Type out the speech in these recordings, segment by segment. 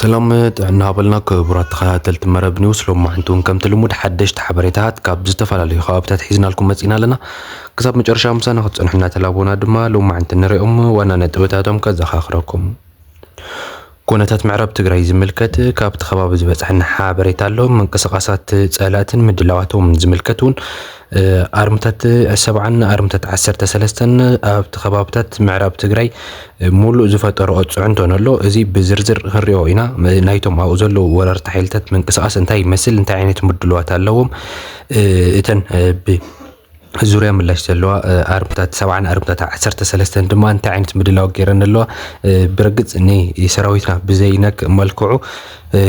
ሰላም ጥዕና በልና ክቡራት ተኸታተልቲ መረብ ኒውስ ሎማዕንቲ እውን ከምቲ ልሙድ ሓደሽቲ ሓበሬታት ካብ ዝተፈላለዩ ከባብታት ሒዝናልኩም መፂና ኣለና ክሳብ መጨረሻ ምሳና ክትፀንሑ እናተላቦና ድማ ሎማዕንቲ ንሪኦም ዋና ነጥብታቶም ከዘኻኽረኩም ኩነታት ምዕራብ ትግራይ ዝምልከት ካብቲ ከባቢ ዝበፅሐና ሓበሬታ ኣሎ። ምንቅስቓሳት ፀላእትን ምድላዋቶምን ዝምልከት እውን ኣርምታት ሰብዓን ኣርምታት ዓሰርተ ሰለስተን ኣብቲ ከባብታት ምዕራብ ትግራይ ሙሉእ ዝፈጠረኦ ፅዕንቶን ኣሎ። እዚ ብዝርዝር ክንሪኦ ኢና። ናይቶም ኣብኡ ዘለዉ ወረርቲ ሓይልታት ምንቅስቓስ እንታይ ይመስል፣ እንታይ ዓይነት ምድልዋት ኣለዎም፣ እተን ብ ዙርያ ምላሽ ዘለዋ ኣርምታት ሰብዓን ኣርምታት ዓሰርተ ሰለስተን ድማ እንታይ ዓይነት ምድላው ገይረን ኣለዋ ብርግፅ ንሰራዊትና ብዘይነክ መልክዑ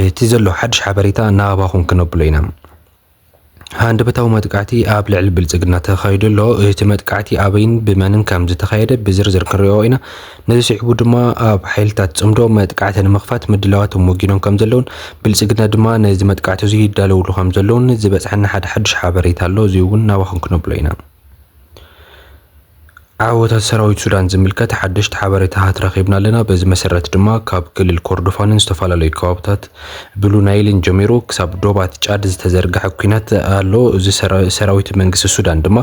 እቲ ዘሎ ሓድሽ ሓበሬታ ናባኹም ክነብሎ ኢና ሃንደበታዊ መጥቃዕቲ ኣብ ልዕሊ ብልፅግና ተኻይዱ ኣሎ እቲ መጥቃዕቲ ኣበይን ብመንን ከም ዝተኻየደ ብዝርዝር ክንሪኦ ኢና ነዚ ስዒቡ ድማ ኣብ ሓይልታት ጽምዶ መጥቃዕቲ ንምኽፋት ምድላዋቶም ወጊኖም ከምዘለውን ብልጽግና ድማ ነዚ መጥቃዕቲ እዚ ይዳለውሉ ከምዘለውን ዝበጽሓና ሓደ ሓዱሽ ሓበሬታ ኣሎ እዚ እውን ናባኹም ክነብሎ ኢና። ዓወታት ሰራዊት ሱዳን ዝምልከት ሓደሽቲ ሓበሬታታት ረኺብና ኣለና። በዚ መሰረት ድማ ካብ ክልል ኮርዶፋንን ዝተፈላለዩ ከባብታት ብሉ ናይልን ጀሚሩ ክሳብ ዶባት ጫድ ዝተዘርግሐ ኩናት ኣሎ። እዚ ሰራዊት መንግስቲ ሱዳን ድማ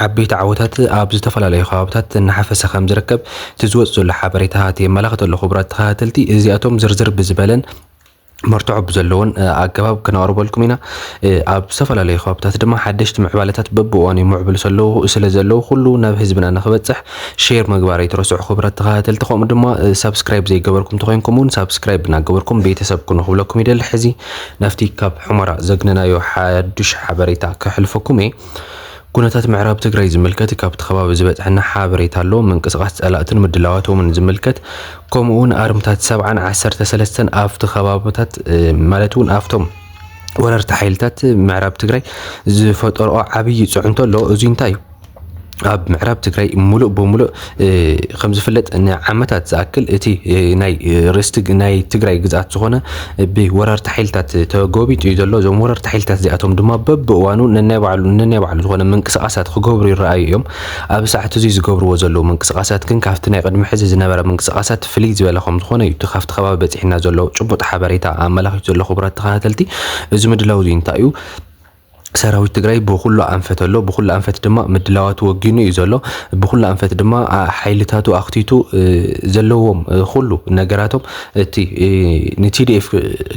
ዓበይቲ ዓወታት ኣብ ዝተፈላለዩ ከባብታት እናሓፈሰ ከምዝርከብ እቲ ዝወፅ ዘሎ ሓበሬታታት የመላኽት ኣሎ። ክቡራት ተኸታተልቲ እዚኣቶም ዝርዝር ብዝበለን መርትዖ ብዘለዎን ኣገባብ ክነቕርበልኩም ኢና። ኣብ ዝተፈላለዩ ከባብታት ድማ ሓደሽቲ ምዕባለታት በብእዋኑ ይምዕብሉ ሰለዉ ስለ ዘለዉ ኩሉ ናብ ህዝብና ንክበፅሕ ሼር ምግባር ኣይትረስዑ ክቡራት ተኸታተልቲ። ከምኡ ድማ ሳብስክራይብ ዘይገበርኩም ተኾይንኩም እውን ሳብስክራይብ እናገበርኩም ቤተሰብ ኩኑ ክብለኩም ይደሊ። ሕዚ ናብቲ ካብ ሑመራ ዘግነናዮ ሓዱሽ ሓበሬታ ከሕልፈኩም እየ። ኩነታት ምዕራብ ትግራይ ዝምልከት ካብቲ ከባቢ ዝበፅሐና ሓበሬታ ኣሎ። ምንቅስቓስ ፀላእትን ምድላዋቶምን ዝምልከት ከምኡ እውን ኣርምታት ሰብዓን ዓሰርተ ሰለስተን ኣብቲ ከባብታት ማለት እውን ኣብቶም ወረርቲ ሓይልታት ምዕራብ ትግራይ ዝፈጠርኦ ዓብዪ ፅዕንቶ ኣሎ። እዙይ እንታይ እዩ? ኣብ ምዕራብ ትግራይ ሙሉእ ብሙሉእ ከም ዝፍለጥ ንዓመታት ዝኣክል እቲ ናይ ርስቲ ናይ ትግራይ ግዝኣት ዝኾነ ብወረርቲ ሓይልታት ተጎቢጡ እዩ ዘሎ። እዞም ወረርቲ ሓይልታት እዚኣቶም ድማ በብእዋኑ ነናይ ባዕሉ ነናይ ባዕሉ ዝኾነ ምንቅስቓሳት ክገብሩ ይረኣዩ እዮም። ኣብ ሰዓት እዙይ ዝገብርዎ ዘለዉ ምንቅስቓሳት ግን ካብቲ ናይ ቅድሚ ሕዚ ዝነበረ ምንቅስቓሳት ፍልይ ዝበለ ከም ዝኾነ እዩ እቲ ካብቲ ከባቢ በፂሑና ዘሎ ጭቡጥ ሓበሬታ ኣመላኺቱ ዘሎ። ክቡራት ተኸታተልቲ እዚ ምድላው እዚ እንታይ እዩ? ሰራዊት ትግራይ ብኹሉ ኣንፈት ኣሎ። ብኹሉ ኣንፈት ድማ ምድላዋቱ ወጊኑ እዩ ዘሎ። ብኹሉ ኣንፈት ድማ ሓይልታቱ ኣኽቲቱ ዘለዎም ኩሉ ነገራቶም እቲ ንቲዲኤፍ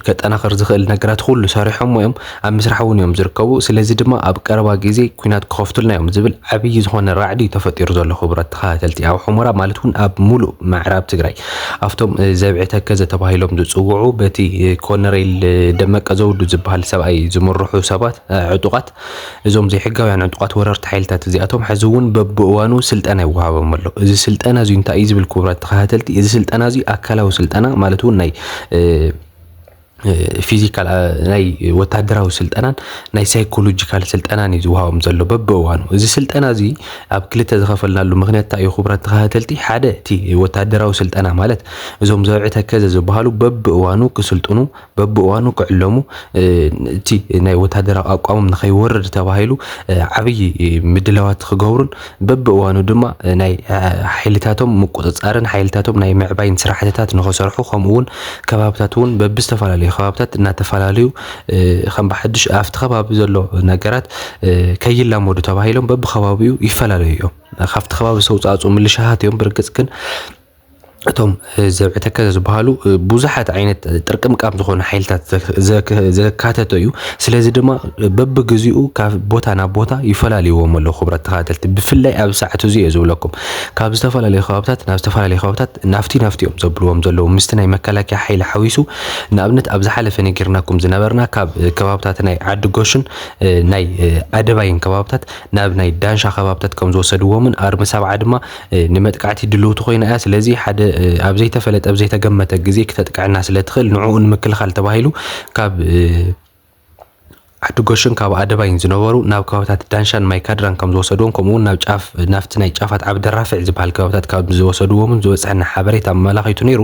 ከጠናኸር ዝኽእል ነገራት ኩሉ ሰሪሖሞ እዮም። ኣብ ምስራሕ እውን እዮም ዝርከቡ። ስለዚ ድማ ኣብ ቀረባ ግዜ ኩናት ክኸፍቱልና እዮም ዝብል ዓብዪ ዝኾነ ራዕዲ እዩ ተፈጢሩ ዘሎ። ክቡራት ተኸታተልቲ ኣብ ሑመራ ማለት እውን ኣብ ሙሉእ ምዕራብ ትግራይ ኣብቶም ዘብዒ ተከዘ ተባሂሎም ዝጽውዑ በቲ ኮነሬል ደመቀ ዘውዱ ዝበሃል ሰብኣይ ዝምርሑ ሰባት ዕጡቓት እዞም ዘይሕጋውያን ዕጡቓት ወረርቲ ሓይልታት እዚኣቶም ሕዚ እውን በብእዋኑ ስልጠና ይወሃቦም ኣሎ። እዚ ስልጠና እዚ እንታይ እዩ ዝብል ክቡራት ተኸታተልቲ፣ እዚ ስልጠና እዚ ኣካላዊ ስልጠና ማለት እውን ናይ ፊዚካል ናይ ወታደራዊ ስልጠናን ናይ ሳይኮሎጂካል ስልጠናን እዩ ዝውሃቦም ዘሎ በብእዋኑ እዚ ስልጠና እዚ ኣብ ክልተ ዝኸፈልናሉ ምክንያት እንታይ እዩ ክቡራት ተኸታተልቲ ሓደ እቲ ወታደራዊ ስልጠና ማለት እዞም ዘብዒ ተከዘ ዝበሃሉ በብእዋኑ ክስልጥኑ በብእዋኑ ክዕለሙ እቲ ናይ ወታደራዊ ኣቋሞም ንኸይወርድ ተባሂሉ ዓብዪ ምድላዋት ክገብሩን በብእዋኑ ድማ ናይ ሓይልታቶም ምቁፅፃርን ሓይልታቶም ናይ ምዕባይን ስራሕትታት ንኸሰርሑ ከምኡ እውን ከባብታት እውን በብዝተፈላለዩ ከባብታት እናተፈላለዩ ከም ብሓዱሽ ኣብቲ ከባቢ ዘሎ ነገራት ከይላመዱ ተባሂሎም በብከባቢኡ ይፈላለዩ እዮም። ካብቲ ከባቢ ዝተውፃእፁ ምልሻሃት እዮም። ብርግፅ ግን እቶም ዘብዕተከዘ ዝበሃሉ ብዙሓት ዓይነት ጥርቅምቃም ዝኾኑ ሓይልታት ዘካተተ እዩ። ስለዚ ድማ በብግዚኡ ካብ ቦታ ናብ ቦታ ይፈላለዩዎም ኣለዉ ክብረት ተኸታተልቲ ብፍላይ ኣብ ሰዓት እዚ እየ ዝብለኩም ካብ ዝተፈላለዩ ከባብታት ናብ ዝተፈላለዩ ከባብታት ናፍቲ ናፍቲ እዮም ዘብልዎም ዘለዉ ምስቲ ናይ መከላከያ ሓይሊ ሓዊሱ ንኣብነት ኣብ ዝሓለፈ ነጊርናኩም ዝነበርና ካብ ከባብታት ናይ ዓዲ ጎሽን ናይ ኣደባይን ከባብታት ናብ ናይ ዳንሻ ከባብታት ከም ዝወሰድዎምን ኣርሚ ሰብዓ ድማ ንመጥቃዕቲ ድልውቲ ኮይና እያ፣ ስለዚ ሓደ ኣብ ዘይተፈለጠ ኣብ ዘይተገመተ ግዜ ክተጥቅዐና ስለ ትኽእል ንዕኡ ንምክልኻል ተባሂሉ ካብ ዓዲጎሽን ካብ ኣደባይን ዝነበሩ ናብ ከባቢታት ዳንሻን ማይካድራን ከም ዝወሰድዎም ከምኡ እውን ናብ ጫፍ ናብቲ ናይ ጫፋት ዓብዲ ራፍዕ ዝበሃል ከባቢታት ካብ ዝወሰድዎምን ዝበፅሐና ሓበሬታ ኣመላኺቱ ነይሩ።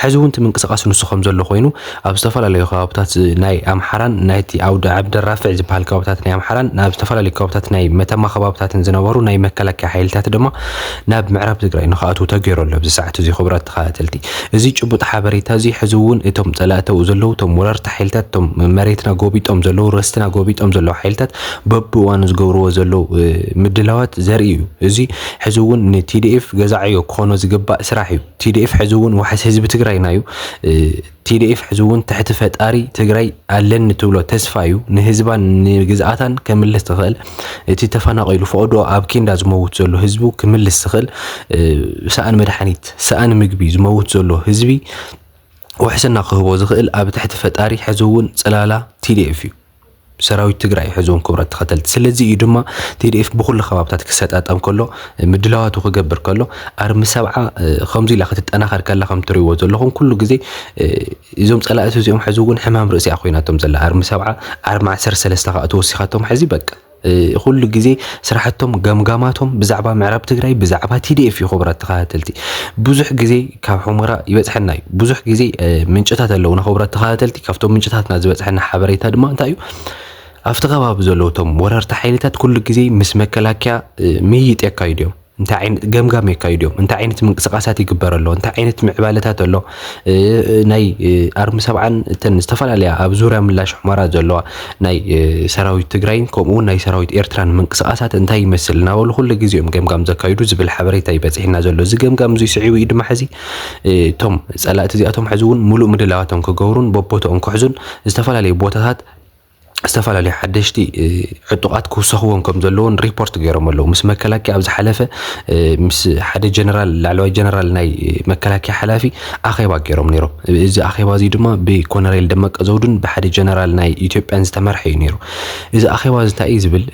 ሕዚ እውን እቲ ምንቅስቓስ ንሱ ከም ዘሎ ኮይኑ ኣብ ዝተፈላለዩ ከባብታት ናይ ኣምሓራን ናይቲ ኣውደ ዓብደራፊዕ ዝበሃል ከባብታት ናይ ኣምሓራን ኣብ ዝተፈላለዩ ከባብታት ናይ መተማ ከባብታትን ዝነበሩ ናይ መከላከያ ሓይልታት ድማ ናብ ምዕራብ ትግራይ ንክኣትዉ ተገይሩ ኣሎ ኣብዚ ሰዓት እዚ ክቡራት ተኸታተልቲ እዚ ጭቡጥ ሓበሬታ እዚ ሕዚ እውን እቶም ፀላእተው ዘለዉ እቶም ወረርቲ ሓይልታት እቶም መሬትና ጎቢጦም ዘለዉ ርስትና ጎቢጦም ዘለዉ ሓይልታት በብእዋኑ ዝገብርዎ ዘለዉ ምድላዋት ዘርኢ እዩ እዚ ሕዚ እውን ንቲዲኤፍ ገዛዕዮ ክኾኖ ዝግባእ ስራሕ እዩ ቲዲኤፍ ሕዚ እውን ዋሕስ ህዝቢ ትግራይና እዩ። ቲዲኤፍ ሕዚ እውን ትሕቲ ፈጣሪ ትግራይ ኣለኒ ትብሎ ተስፋ እዩ። ንህዝባን ንግዝኣታን ከምልስ ትኽእል እቲ ተፈናቒሉ ፈቕዶ ኣብ ኬንዳ ዝመውት ዘሎ ህዝቡ ክምልስ ዝኽእል ሰኣን መድሓኒት ሰኣን ምግቢ ዝመውት ዘሎ ህዝቢ ውሕስና ክህቦ ዝኽእል ኣብ ትሕቲ ፈጣሪ ሕዚ እውን ፅላላ ቲዲኤፍ እዩ። ሰራዊት ትግራይ ሕዞም ክብረት ተኸተልቲ ስለዚ እዩ ድማ ቲዲኤፍ ብኩሉ ከባብታት ክሰጣጠም ከሎ ምድላዋቱ ክገብር ከሎ ኣርሚ ሰብዓ ከምዚ ኢላ ክትጠናኸር ከላ ከም ትሪእዎ ዘለኹም ኩሉ ግዜ እዞም ጸላእቲ እዚኦም ሕዚ እውን ሕማም ርእሲ እያ ኮይናቶም ዘላ ኣርሚ ሰብዓ ኣርሚ ዓሰርተ ሰለስተ ከዓ ተወሲኻቶም ሕዚ በቃ ኹሉ ግዜ ስራሕቶም ገምጋማቶም ብዛዕባ ምዕራብ ትግራይ ብዛዕባ ቲዲኤፍ እዩ ክቡራት ተኸታተልቲ ብዙሕ ግዜ ካብ ሑመራ ይበፅሐና እዩ ብዙሕ ግዜ ምንጭታት ኣለውና ክቡራት ተኸታተልቲ ካብቶም ምንጭታትና ዝበፅሐና ሓበሬታ ድማ እንታይ እዩ ኣብቲ ከባቢ ዘለዉ እቶም ወረርቲ ሓይልታት ኩሉ ግዜ ምስ መከላከያ ምይይጥ የካይዱ እዮም እንታይ ዓይነት ገምጋም የካይዱ እዮም፣ እንታይ ዓይነት ምንቅስቃሳት ይግበር ኣሎ፣ እንታይ ዓይነት ምዕባለታት ኣሎ፣ ናይ ኣርሚ ሰብዓን እተን ዝተፈላለያ ኣብ ዙርያ ምላሽ ሑመራ ዘለዋ ናይ ሰራዊት ትግራይን ከምኡ እውን ናይ ሰራዊት ኤርትራን ምንቅስቃሳት እንታይ ይመስል እናበሉ ኩሉ ግዜ እዮም ገምጋም ዘካይዱ ዝብል ሓበሬታ እዩ በፂሕና ዘሎ። እዚ ገምጋም እዙይ ስዒቡ እዩ ድማ ሕዚ እቶም ፀላእቲ እዚኣቶም ሕዚ እውን ሙሉእ ምድላዋቶም ክገብሩን በቦትኦም ክሕዙን ዝተፈላለዩ ቦታታት ዝተፈላለዩ ሓደሽቲ ዕጡቓት ክውሰኽዎም ከም ዘለዎን ሪፖርት ገይሮም ኣለዉ ምስ መከላከያ ኣብ ዝሓለፈ ምስ ሓደ ጀነራል ላዕለዋይ ጀነራል ናይ መከላከያ ሓላፊ ኣኼባ ገይሮም ነይሮም እዚ ኣኼባ እዚ ድማ ብኮነሬል ደመቀ ዘውዱን ብሓደ ጀነራል ናይ ኢትዮጵያን ዝተመርሐ እዩ ነይሩ እዚ ኣኼባ እዚ እንታይ እዩ ዝብል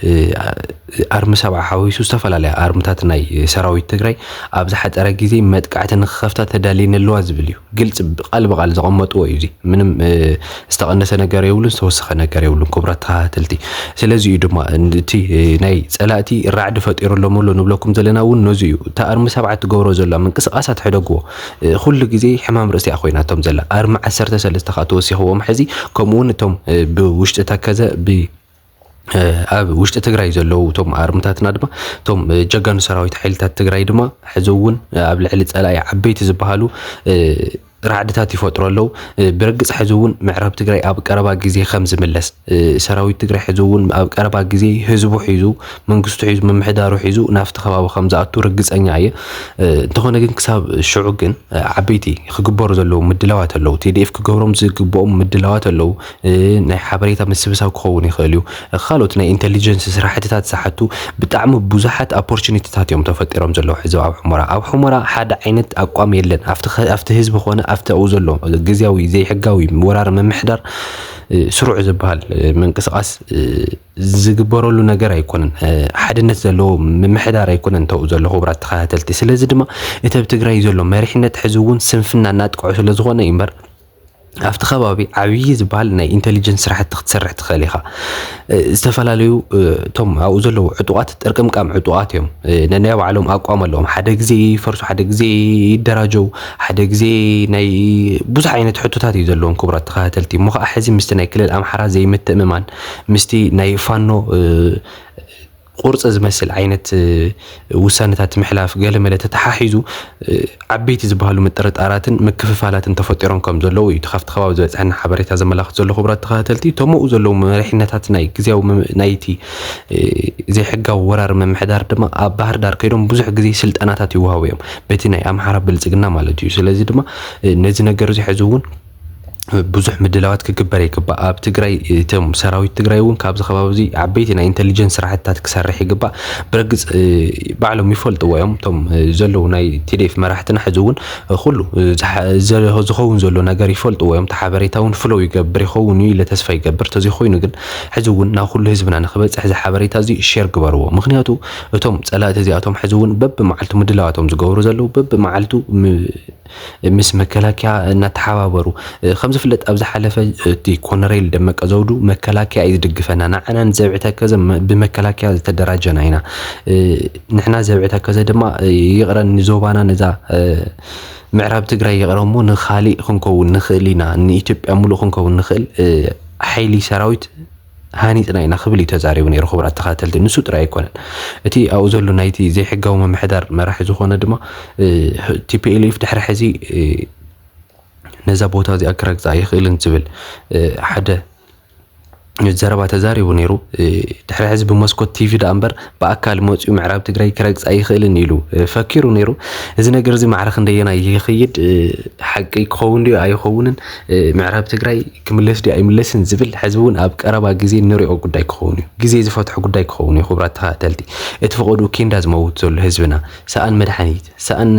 ኣርሚ ሰብዓ ሓዊሱ ዝተፈላለያ ኣርምታት ናይ ሰራዊት ትግራይ ኣብ ዝሓፀረ ግዜ መጥቃዕቲ ንክኸፍታ ተዳልየን ኣለዋ ዝብል እዩ ግልፂ ቃል ብቃል ዘቐመጥዎ እዩ እዚ ምንም ዝተቐነሰ ነገር የብሉን ዝተወሰኸ ነገር የብሉን ክቡራት ተኸታተልቲ ስለዚ እዩ ድማ እቲ ናይ ፀላእቲ ራዕዲ ፈጢሩሎም ኣሎ ንብለኩም ዘለና እውን ነዚ እዩ እቲ ኣርሚ ሰብዓ ትገብሮ ዘላ ምንቅስቃሳት ሕደግዎ ኩሉ ግዜ ሕማም ርእሲ እያ ኮይናቶም ዘላ ኣርሚ ዓሰርተ ሰለስተ ከዓ ተወሲኽዎም ሕዚ ከምኡውን እቶም ብውሽጢ ተከዘ ብ ኣብ ውሽጢ ትግራይ ዘለዉ እቶም ኣርምታትና ድማ እቶም ጀጋኑ ሰራዊት ሓይልታት ትግራይ ድማ ሕዚ እውን ኣብ ልዕሊ ፀላኢ ዓበይቲ ዝበሃሉ ራዕድታት ይፈጥሩ ኣለዉ ብርግፅ ሕዚ እውን ምዕራብ ትግራይ ኣብ ቀረባ ግዜ ከም ዝምለስ ሰራዊት ትግራይ ሕዚ እውን ኣብ ቀረባ ግዜ ህዝቡ ሒዙ መንግስቱ ሒዙ ምምሕዳሩ ሒዙ ናብቲ ከባቢ ከም ዝኣቱ ርግፀኛ እየ እንተኾነ ግን ክሳብ ሽዑ ግን ዓበይቲ ክግበሩ ዘለዉ ምድላዋት ኣለዉ ቲዲኤፍ ክገብሮም ዝግብኦም ምድላዋት ኣለዉ ናይ ሓበሬታ ምስብሳብ ክኸውን ይኽእል እዩ። ካልኦት ናይ ኢንተሊጀንስ ስራሕትታት ዝሓቱ ብጣዕሚ ብዙሓት ኣፖርቹኒቲታት እዮም ተፈጢሮም ዘለዉ ሕዚ ኣብ ሑመራ። ኣብ ሑመራ ሓደ ዓይነት ኣቋም የለን ኣብቲ ኣብቲ ህዝቢ ኮነ ኣብቲ ኣብኡ ዘሎ ግዝያዊ ዘይሕጋዊ ወራር ምምሕዳር ስሩዕ ዝበሃል ምንቅስቓስ ዝግበረሉ ነገር ኣይኮነን። ሓድነት ዘለዎ ምምሕዳር ኣይኮነን ተብኡ ዘሎ ክቡራት ተኸታተልቲ። ስለዚ ድማ እቲ ኣብ ትግራይ ዘሎ መሪሕነት ሕዚ እውን ስንፍና እናጥቀዖ ስለዝኾነ እዩ እምበር ኣብቲ ከባቢ ዓብዪ ዝበሃል ናይ ኢንተሊጀንስ ስራሕቲ ክትሰርሕ ትኽእል ኢኻ። ዝተፈላለዩ እቶም ኣብኡ ዘለዉ ዕጡቓት ጥርቅምቃም ዕጡቓት እዮም። ነናይ ባዕሎም ኣቋም ኣለዎም። ሓደ ግዜ ይፈርሱ፣ ሓደ ግዜ ይደራጀው፣ ሓደ ግዜ ናይ ብዙሕ ዓይነት ሕቶታት እዩ ዘለዎም። ክቡራት ተኸታተልቲ እሞ ከዓ ሕዚ ምስቲ ናይ ክልል ኣምሓራ ዘይምትእምማን ምስቲ ናይ ፋኖ ቁርፂ ዝመስል ዓይነት ውሳነታት ምሕላፍ ገለመለ ተተሓሒዙ ዓበይቲ ዝበሃሉ ምጥርጣራትን ምክፍፋላትን ተፈጢሮም ከም ዘለዉ እዩ እቲ ካብቲ ከባቢ ዝበፅሐና ሓበሬታ ዘመላኽት ዘሎ ክቡራት ተኸታተልቲ እቶም ኣብኡ ዘለዉ መሪሕነታት ናይ ግዝያዊ ናይቲ ዘይሕጋዊ ወራሪ ምምሕዳር ድማ ኣብ ባህር ዳር ከይዶም ብዙሕ ግዜ ስልጠናታት ይወሃቡ እዮም በቲ ናይ ኣምሓራ ብልፅግና ማለት እዩ ስለዚ ድማ ነዚ ነገር እዚ ሕዚ እውን ብዙሕ ምድላዋት ክግበር ይግባእ። ኣብ ትግራይ እቶም ሰራዊት ትግራይ እውን ካብዚ ከባቢ እዚ ዓበይቲ ናይ ኢንተሊጀንስ ስራሕትታት ክሰርሕ ይግባእ። ብርግፅ ባዕሎም ይፈልጥዎ እዮም እቶም ዘለዉ ናይ ቲዴፍ መራሕትና ሕዚ እውን ኩሉ ዝኸውን ዘሎ ነገር ይፈልጥዎ እዮም። እቲ ሓበሬታ እውን ፍለው ይገብር ይኸውን እዩ ኢለ ተስፋ ይገብር። ተዘይ ኮይኑ ግን ሕዚ እውን ናብ ኩሉ ህዝብና ንክበፅሕ እዚ ሓበሬታ እዚ ሼር ግበርዎ። ምክንያቱ እቶም ፀላእቲ እዚኣቶም ሕዚ እውን በቢመዓልቱ ምድላዋቶም ዝገብሩ ዘለዉ በቢመዓልቱ ምስ መከላከያ እናተሓባበሩ ከም ዝፍለጥ ኣብ ዝሓለፈ እቲ ኮነሬል ደመቀ ዘውዱ መከላከያ እዩ ዝድግፈና ንዓና ንዘብዒ ተከዘ ብመከላከያ ዝተደራጀና ኢና ንሕና ዘብዒ ተከዘ ድማ ይቕረ ንዞባና ነዛ ምዕራብ ትግራይ ይቕረ እሞ ንካሊእ ክንከውን ንኽእል ኢና ንኢትዮጵያ ሙሉእ ክንከውን ንኽእል ሓይሊ ሰራዊት ሃኒጽና ኢና ክብል እዩ ተዛሪቡ ነይሩ። ክቡራት ተኸታተልቲ ንሱ ጥራይ ኣይኮነን እቲ ኣብኡ ዘሎ ናይቲ ዘይሕጋዊ ምምሕዳር መራሒ ዝኾነ ድማ ቲፒኤልኤፍ ድሕሪ ሕዚ ነዛ ቦታ እዚኣ ክረግጻ ኣይኽእልን ዝብል ሓደ ዘረባ ተዛሪቡ ነይሩ። ድሕሪ ሕዚ ብመስኮት ቲቪ ደኣ እምበር ብኣካል መፅዩ ምዕራብ ትግራይ ክረግፅ ኣይኽእልን ኢሉ ፈኪሩ ነይሩ። እዚ ነገር እዚ ማዕረ ክንደየናይ ይኽይድ ሓቂ ክኸውን ድዩ ኣይኸውንን፣ ምዕራብ ትግራይ ክምለስ ድዩ ኣይምለስን ዝብል ሕዚ እውን ኣብ ቀረባ ግዜ እንሪኦ ጉዳይ ክኸውን እዩ። ግዜ ዝፈትሖ ጉዳይ ክኸውን እዩ። ክቡራት ተኸታተልቲ እቲ ፈቐድኡ ኬንዳ ዝመውት ዘሎ ህዝብና ሰኣን መድሓኒት፣ ሰኣን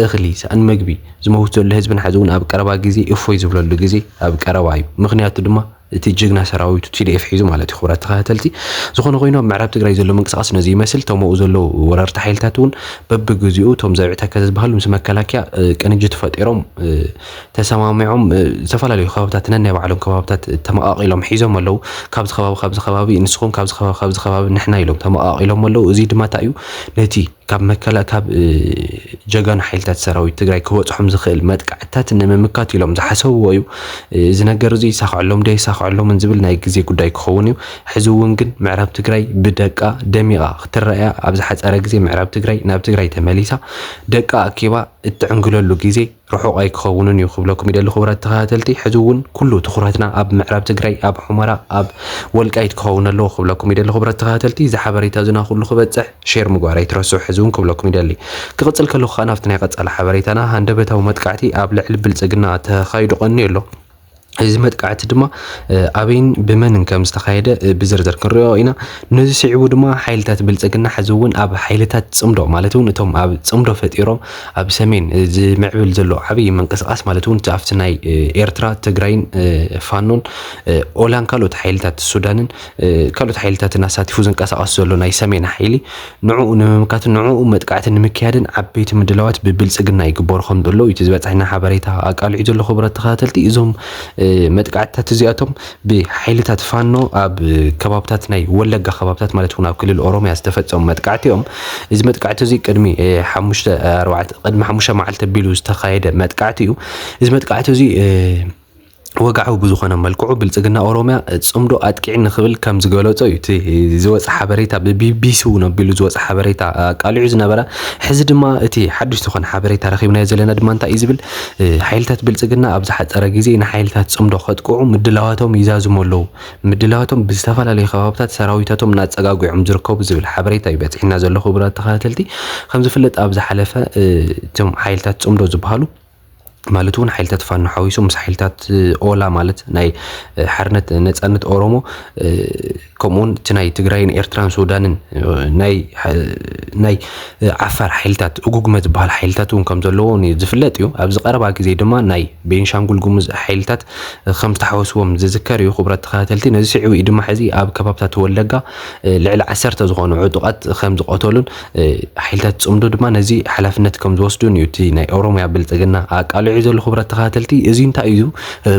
እኽሊ፣ ሰኣን መግቢ ዝመውት ዘሎ ህዝብና ሕዚ እውን ኣብ ቀረባ ግዜ እፎይ ዝብለሉ ግዜ ኣብ ቀረባ እዩ። ምኽንያቱ ድማ እቲ ጅግና ሰራዊቱ tdf ሒዙ ማለት እዩ ክቡራት ተኸታተልቲ። ዝኾነ ኮይኑ ኣብ ምዕራብ ትግራይ ዘሎ ምንቅስቓስ ነዚ ይመስል እቶም ኣብኡ ዘለዉ ወረርቲ ሓይልታት እውን በብግዚኡ እቶም ዘብዒ ተከዘ ዝበሃሉ ምስ መከላከያ ቅንጅት ፈጢሮም ተሰማሚዖም ዝተፈላለዩ ከባብታት ነናይ ባዕሎም ከባብታት ተመቓቒሎም ሒዞም ኣለዉ ካብዚ ከባቢ ካብዚ ከባቢ ንስኹም ካብዚ ከባቢ ካብዚ ከባቢ ንሕና ኢሎም ተመቓቒሎም ኣለዉ እዚ ድማ እንታይ እዩ ነቲ ካብ መከላ ካብ ጀጋኑ ሓይልታት ሰራዊት ትግራይ ክበፅሖም ዝኽእል መጥቃዕትታት ንምምካት ኢሎም ዝሓሰብዎ እዩ። እዚ ነገር እዚ ይሳኽዐሎም ዶ ኣይሳኽዐሎምን ዝብል ናይ ግዜ ጉዳይ ክኸውን እዩ። ሕዚ እውን ግን ምዕራብ ትግራይ ብደቃ ደሚቓ ክትረኣያ ኣብ ዝሓፀረ ግዜ ምዕራብ ትግራይ ናብ ትግራይ ተመሊሳ ደቃ ኣኪባ እትዕንግለሉ ግዜ ርሑቕ ኣይክኸውንን እዩ ክብለኩም ይደሊ ክቡራት ተኸታተልቲ፣ ሕዚ እውን ኩሉ ትኹረትና ኣብ ምዕራብ ትግራይ ኣብ ሑመራ ኣብ ወልቃይት ክኸውን ኣለዎ ክብለኩም ይደሊ ክቡራት ተኸታተልቲ፣ እዚ ሓበሬታ እዙና ኩሉ ክበፅሕ ሼር ምግባር ኣይትረስዑ ሕዚ እውን ክብለኩም ይደሊ። ክቕፅል ከለኹ ከዓ ናብቲ ናይ ቐፃሊ ሓበሬታና ሃንደበታዊ መጥቃዕቲ ኣብ ልዕሊ ብልፅግና ተኻይዱ ቐንዩ ኣሎ። እዚ መጥቃዕቲ ድማ ኣበይን ብመንን ከም ዝተኻየደ ብዝርዝር ክንሪኦ ኢና ነዚ ስዒቡ ድማ ሓይልታት ብልፅግና ሕዚ እውን ኣብ ሓይልታት ፅምዶ ማለት እውን እቶም ኣብ ፅምዶ ፈጢሮም ኣብ ሰሜን ዝምዕብል ዘሎ ዓብዪ ምንቅስቃስ ማለት እውን ኣብቲ ናይ ኤርትራ ትግራይን ፋኖን ኦላን ካልኦት ሓይልታት ሱዳንን ካልኦት ሓይልታትን ኣሳቲፉ ዝንቀሳቀስ ዘሎ ናይ ሰሜን ሓይሊ ንዕኡ ንምምካትን ንዕኡ መጥቃዕቲ ንምክያድን ዓበይቲ ምድላዋት ብብልፅግና ይግበሩ ከም ዘለዉ እዩ እቲ ዝበፀሐና ሓበሬታ ኣቃሊዑ ዘሎ። ክቡራት ተኸታተልቲ እዞም መጥቃዕትታት እዚኣቶም ብሓይልታት ፋኖ ኣብ ከባብታት ናይ ወለጋ ከባብታት ማለት እውን ኣብ ክልል ኦሮሚያ ዝተፈፀሙ መጥቃዕቲ እዮም። እዚ መጥቃዕቲ እዚ ቅድሚ ሓሙሽተ ኣርባዕተ ቅድሚ ሓሙሽተ መዓልቲ ኣቢሉ ዝተኻየደ መጥቃዕቲ እዩ። እዚ መጥቃዕቲ እዚ ወግዓዊ ብዝኾነ መልክዑ ብልፅግና ኦሮሚያ ፅምዶ ኣጥቂዒ ንክብል ከም ዝገለፆ እዩ እቲ ዝወፀ ሓበሬታ ብቢቢሲ እውን ኣቢሉ ዝወፀ ሓበሬታ ኣቃሊዑ ዝነበረ ሕዚ ድማ እቲ ሓዱሽ ዝኾነ ሓበሬታ ረኺብናዮ ዘለና ድማ እንታይ እዩ ዝብል ሓይልታት ብልፅግና ኣብ ዝሓፀረ ግዜ ንሓይልታት ፅምዶ ከጥቅዑ ምድላዋቶም ይዛዝሙ ኣለዉ ምድላዋቶም ብዝተፈላለዩ ከባብታት ሰራዊታቶም እናፀጋጒዖም ዝርከቡ ዝብል ሓበሬታ እዩ በፂሕና ዘሎ ክቡራት ተኸታተልቲ ከም ዝፍለጥ ኣብ ዝሓለፈ እቶም ሓይልታት ፅምዶ ዝበሃሉ ማለት እውን ሓይልታት ፋኖ ሓዊሱ ምስ ሓይልታት ኦላ ማለት ናይ ሓርነት ነፃነት ኦሮሞ ከምኡውን እቲ ናይ ትግራይን ኤርትራን ሱዳንን ናይ ዓፋር ሓይልታት እጉግመ ዝበሃል ሓይልታት እውን ከም ዘለዎ ዝፍለጥ እዩ ኣብዚ ቀረባ ግዜ ድማ ናይ ቤንሻንጉል ጉሙዝ ሓይልታት ከም ዝተሓወስዎም ዝዝከር እዩ ክቡራት ተኸታተልቲ ነዚ ስዒቡ እዩ ድማ ሕዚ ኣብ ከባብታት ወለጋ ልዕሊ ዓሰርተ ዝኾኑ ዕጡቓት ከም ዝቐተሉን ሓይልታት ፅምዶ ድማ ነዚ ሓላፍነት ከም ዝወስዱን እዩ እቲ ናይ ኦሮሚያ ብልፅግና ኣቃሊዑ ዘሎ ክቡራት ተኸታተልቲ እዚ እንታይ እዩ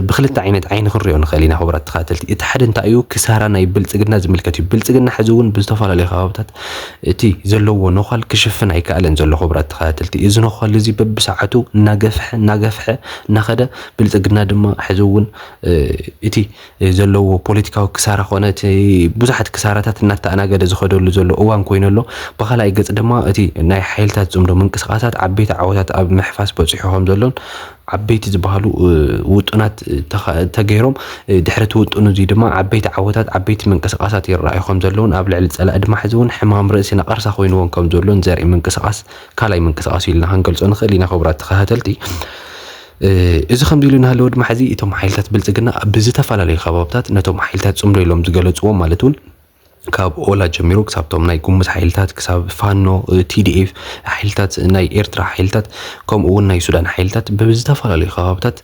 ብክልተ ዓይነት ዓይኒ ክንሪኦ ንኽእል ኢና ክቡራት ተኸታተልቲ እቲ ሓደ እንታይ እዩ ክሳራ ናይ ብልፅግና ዝምልከት እዩ ብልፅግና ሕዚ እውን ብዝተፈላለዩ ከባብታት እቲ ዘለዎ ነዃል ክሽፍን ኣይከኣለን ዘሎ ክቡራት ተኸታተልቲ እዚ ነዃል እዚ በብሰዓቱ እናገፍሐ እናገፍሐ እናኸደ ብልፅግና ድማ ሕዚ እውን እቲ ዘለዎ ፖለቲካዊ ክሳራ ኮነ እቲ ብዙሓት ክሳራታት እናተኣናገደ ዝኸደሉ ዘሎ እዋን ኮይኑ ኣሎ። ብኻልኣይ ገፅ ድማ እቲ ናይ ሓይልታት ፅምዶ ምንቅስቓሳት ዓበይቲ ዓወታት ኣብ ምሕፋስ በፂሑ ከምዘሎን ዓበይቲ ዝበሃሉ ውጡናት ተገይሮም ድሕሪ እቲ ውጡን እዙይ ድማ ዓበይቲ ዓወታት ዓበይቲ ምንቅስቓሳት ይረኣዩ ከምዘለውን ኣብ ልዕሊ ፀላኢ ድማ ሕዚ እውን ሕማም ርእሲ ነቐርሳ ኮይኑዎም ከምዘሎን ዘርኢ ምንቅስቓስ ካልኣይ ምንቅስቓስ እዩ ኢልና ክንገልፆ ንኽእል ኢና። ክቡራት ተኸታተልቲ እዚ ከምዚ ኢሉ እናሃለወ ድማ ሕዚ እቶም ሓይልታት ብልፅግና ብዝተፈላለዩ ከባብታት ነቶም ሓይልታት ፅምዶ ኢሎም ዝገለፅዎም ማለት እውን ካብ ኦላ ጀሚሩ ክሳብቶም ናይ ጉሙዝ ሓይልታት ክሳብ ፋኖ ቲዲኤፍ ሓይልታት ናይ ኤርትራ ሓይልታት ከምኡ እውን ናይ ሱዳን ሓይልታት ብዝተፈላለዩ ከባብታት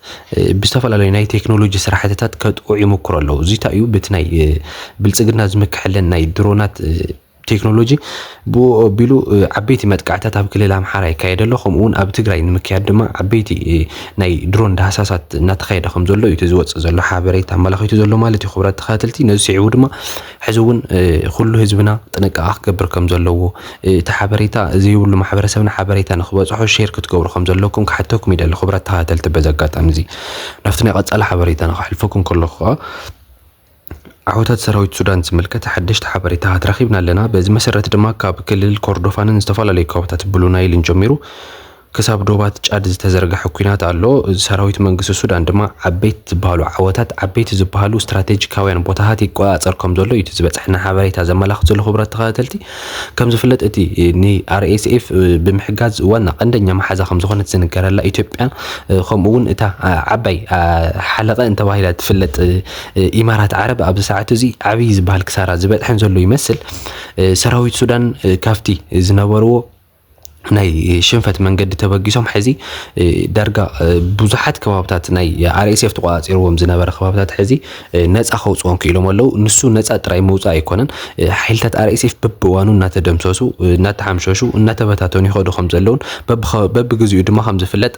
ብዝተፈላለዩ ናይ ቴክኖሎጂ ስራሕትታት ከጥቅዑ ይምክሩ ኣለዉ እዚ እንታይ እዩ በቲ ናይ ብልፅግና ዝምክሐለን ናይ ድሮናት ቴክኖሎጂ ብኡ ኣቢሉ ዓበይቲ መጥቃዕታት ኣብ ክልል ኣምሓራ ይካየደ ኣሎ ከምኡ እውን ኣብ ትግራይ ንምክያድ ድማ ዓበይቲ ናይ ድሮን ዳህሳሳት እናተኻየደ ከም ዘሎ እዩ እቲ ዝወፅእ ዘሎ ሓበሬታ ኣመላኺቱ ዘሎ ማለት እዩ ክብራት ተኸታተልቲ ነዚ ስዒቡ ድማ ሕዚ እውን ኩሉ ህዝብና ጥንቃቐ ክገብር ከም ዘለዎ እቲ ሓበሬታ ዘይብሉ ማሕበረሰብና ሓበሬታ ንክበፅሖ ሼር ክትገብሩ ከም ዘለኩም ክሓተኩም ይደሊ ክብራት ተኸታተልቲ በዚ ኣጋጣሚ እዚ ናብቲ ናይ ቀፃሊ ሓበሬታና ከሕልፈኩም ከለኹ ከዓ ዓወታት ሰራዊት ሱዳን ዝምልከት ሓደሽቲ ሓበሬታታት ረኺብና ኣለና። በዚ መሰረት ድማ ካብ ክልል ኮርዶፋንን ዝተፈላለዩ ከባቢታት ብሉ ናይልን ጀሚሩ ክሳብ ዶባት ጫድ ዝተዘርገሐ ኩናት ኣሎ። ሰራዊት መንግስቲ ሱዳን ድማ ዓበይቲ ዝበሃሉ ዓወታት፣ ዓበይቲ ዝበሃሉ ስትራቴጂካውያን ቦታታት ይቆፃፀር ከም ዘሎ እዩ እቲ ዝበፅሐና ሓበሬታ ዘመላኽት ዘሎ። ክቡራት ተኸታተልቲ ከም ዝፍለጥ እቲ ንኣርኤስኤፍ ብምሕጋዝ ዋና ቀንደኛ መሓዛ ከም ዝኾነት ዝንገረላ ኢትዮጵያ ከምኡ እውን እታ ዓባይ ሓለቐ እንተባሂላ ትፍለጥ ኢማራት ዓረብ ኣብዚ ሰዓት እዚ ዓብዪ ዝበሃል ክሳራ ዝበፅሐን ዘሎ ይመስል ሰራዊት ሱዳን ካብቲ ዝነበርዎ ናይ ሽንፈት መንገዲ ተበጊሶም ሕዚ ዳርጋ ብዙሓት ከባብታት ናይ ኣርኤስኤፍ ተቆፃፂርዎም ዝነበረ ከባብታት ሕዚ ነፃ ከውፅኦም ክኢሎም ኣለዉ ንሱ ነፃ ጥራይ ምውፃእ ኣይኮነን ሓይልታት ኣርኤስኤፍ በብእዋኑ እናተደምሰሱ እናተሓምሸሹ እናተበታተኑ ይኸዱ ከም ዘለዉን በብኸ- በብግዚኡ ድማ ከም ዝፍለጥ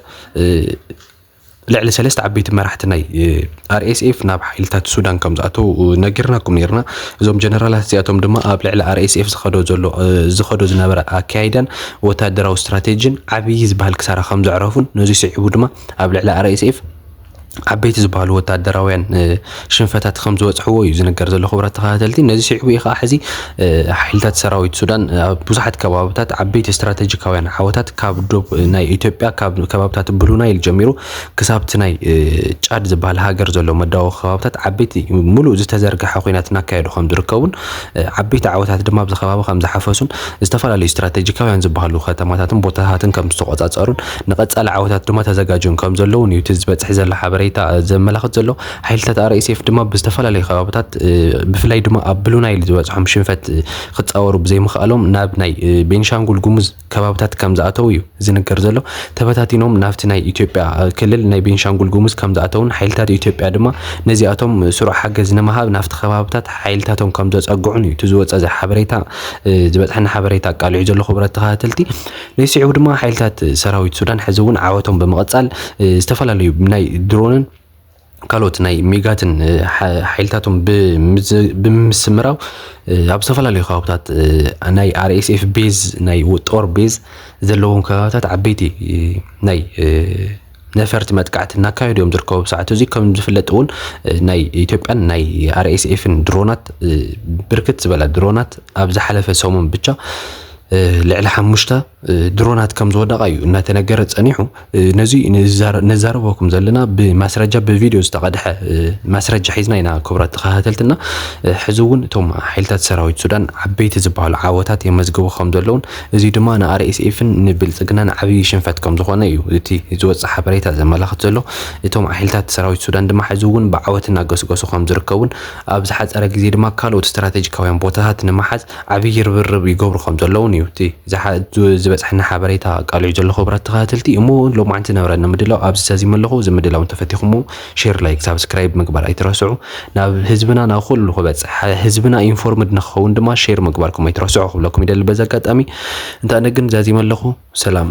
ልዕሊ ሰለስተ ዓበይቲ መራሕቲ ናይ ኣርኤስኤፍ ናብ ሓይልታት ሱዳን ከም ዝኣተው ነጊርናኩም ነርና። እዞም ጀነራላት እዚኣቶም ድማ ኣብ ልዕሊ ኣርኤስኤፍ ዝኸዶ ዘሎ ዝኸዶ ዝነበረ ኣካያይዳን ወታደራዊ ስትራቴጂን ዓብዪ ዝበሃል ክሳራ ከም ዘዕረፉን ነዚ ስዒቡ ድማ ኣብ ልዕሊ ኣርኤስኤፍ ዓበይቲ ዝበሃሉ ወታደራውያን ሽንፈታት ከም ዝበጽሕዎ እዩ ዝንገር ዘሎ። ክቡራት ተኸታተልቲ ነዚ ስዒቡ እዩ ከዓ ሕዚ ሓይልታት ሰራዊት ሱዳን ኣብ ብዙሓት ከባብታት ዓበይቲ ስትራቴጂካውያን ዓወታት ካብ ዶብ ናይ ኢትዮጵያ ካብ ከባብታት ብሉ ናይል ጀሚሩ ክሳብቲ ናይ ጫድ ዝበሃል ሃገር ዘሎ መዳዊ ከባብታት ዓበይቲ ሙሉእ ዝተዘርግሐ ኩናት እናካየዱ ከም ዝርከቡን ዓበይቲ ዓወታት ድማ ኣብዚ ከባቢ ከም ዝሓፈሱን ዝተፈላለዩ ስትራቴጂካውያን ዝበሃሉ ከተማታትን ቦታታትን ከም ዝተቆጻጸሩን ንቀጻሊ ዓወታት ድማ ተዘጋጅዮም ከም ዘለውን እዩ እቲ ዝበጽሕ ዘሎ ሓበሬታ ዘመላኽት ዘሎ ሓይልታት RSF ድማ ብዝተፈላለዩ ከባብታት ብፍላይ ድማ ኣብ ብሉ ናይል ዝበፅሖም ሽንፈት ክፃወሩ ብዘይምኽኣሎም ናብ ናይ ቤንሻንጉል ጉሙዝ ከባብታት ከም ዝኣተው እዩ ዝንገር ዘሎ። ተበታቲኖም ናብቲ ናይ ኢትዮጵያ ክልል ናይ ቤንሻንጉል ጉሙዝ ከም ዝኣተውን ሓይልታት ኢትዮጵያ ድማ ነዚኣቶም ስሩዕ ሓገዝ ንምሃብ ናብቲ ከባብታት ሓይልታቶም ከም ዘፀግዑን እዩ እቲ ዝወፀ ሓበሬታ ዝበፅሐና ሓበሬታ ኣቃሊዑ ዘሎ ክቡራት ተኸታተልቲ። ነዚ ስዒቡ ድማ ሓይልታት ሰራዊት ሱዳን ሕዚ እውን ዓወቶም ብምቕፃል ዝተፈላለዩ ናይ ድሮንን ካልኦት ናይ ሚጋትን ሓይልታቶም ብምስምራው ኣብ ዝተፈላለዩ ከባብታት ናይ ኣርኤስኤፍ ቤዝ ናይ ጦር ቤዝ ዘለዎም ከባብታት ዓበይቲ ናይ ነፈርቲ መጥቃዕቲ እናካየዱ እዮም ዝርከቡ ሰዓት እዚ ከም ዝፍለጥ እውን ናይ ኢትዮጵያን ናይ ኣርኤስኤፍን ድሮናት ብርክት ዝበላ ድሮናት ኣብ ዝሓለፈ ሰሙን ብቻ ልዕሊ ሓሙሽተ ድሮናት ከም ዝወደቓ እዩ እናተነገረ ጸኒሑ። ነዚ ነዛረበኩም ዘለና ብማስረጃ ብቪድዮ ዝተቐድሐ ማስረጃ ሒዝና ኢና ክቡራት ተኸታተልትና። ሕዚ እውን እቶም ሓይልታት ሰራዊት ሱዳን ዓበይቲ ዝበሃሉ ዓወታት የመዝግቡ ከም ዘለውን እዚ ድማ ንኣርኤስኤፍን ንብልጽግናን ዓብዪ ሽንፈት ከም ዝኾነ እዩ እቲ ዝወፅእ ሓበሬታ ዘመላኽት ዘሎ። እቶም ሓይልታት ሰራዊት ሱዳን ድማ ሕዚ እውን ብዓወት እናገስገሱ ከም ዝርከቡን ኣብ ዝሓፀረ ግዜ ድማ ካልኦት ስትራቴጂካውያን ቦታታት ንምሓዝ ዓብዪ ርብርብ ይገብሩ ከም ዘለዉን እዩ እቲ ዝበፅሐና ሓበሬታ ኣቃሊዑ ዘሎ ክቡራት ተኸታተልቲ እሞ እውን ሎማዕንቲ ናብራ ንምድላው ኣብዚ ሰዚመ ኣለኹ እዚ ምድላው እንተፈቲኹሞ ሼር ላይክ ሳብስክራይብ ምግባር ኣይትረስዑ ናብ ህዝብና ናብ ኩሉ ክበፅሕ ህዝብና ኢንፎርምድ ንክኸውን ድማ ሼር ምግባርኩም ኣይትረስዑ ክብለኩም ይደሊ በዚ ኣጋጣሚ እንተ ኣነ ግን ዛዚመ ኣለኹ ሰላም